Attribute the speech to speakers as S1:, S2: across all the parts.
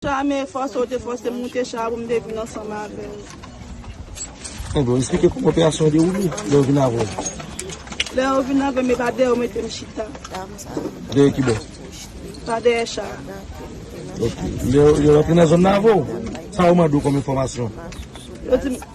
S1: Chame fòse ou te fòse m moute cha a pou m te vin
S2: ansanm avè w. Enben, w esplike kouman operasyon an dewoule lè yo vin avè w. Lè yo
S1: vin avè m, e pa dèyè yo mete m chita. Dèyè
S2: ki bò? Pa dèyè cha
S1: a. Ok.
S2: Lè yo rantre nan zòn nan avè w, sa yo mande w kòm enfòmasyon? Yo di m,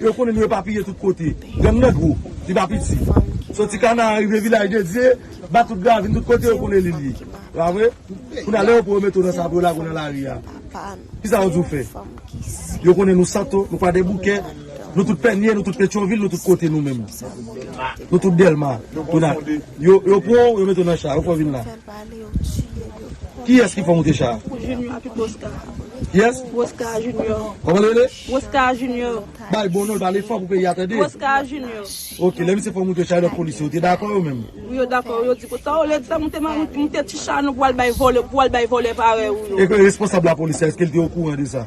S2: Yo konnen nou epapiye tout kote. Gang nan gwo, li pa piti. Soti Kanaan rive Vilaj de Dye, bat tout gravin, tout kote yo konnen li l ye. Se pa vre? Kounye a lè yo pran yo mete w nan sa pou yo lage w nan lari a, ki sa yo di w fè? Yo konnen nou Santo, nou Kwadèboukè, nou tout Pènye, nou tout Petyonvil, nou tout kote nou menm. Nou tout Dèlma. Yo pran w, yo mete w nan cha, yo fè w vin la. Kiyès ki fè w monte cha a?
S1: Kiyès? Kòman li rele? Roscar
S2: junior.
S1: Bay bon non pale
S2: fò pou peyi a tande. Roscar junior.
S1: Ok lè misye fè w
S2: moute chay lòt polisye ou te dakò yo menm. Wi yo dakò yo di
S1: konsa olye di sa moute ma moute ti
S2: chay
S1: nou pou
S2: al bay
S1: vòlè
S2: pou al
S1: bay
S2: vòlè parèy ou
S1: yo. E
S2: responsab
S1: lapolis
S2: la eske
S1: l te
S2: okouran
S1: de sa?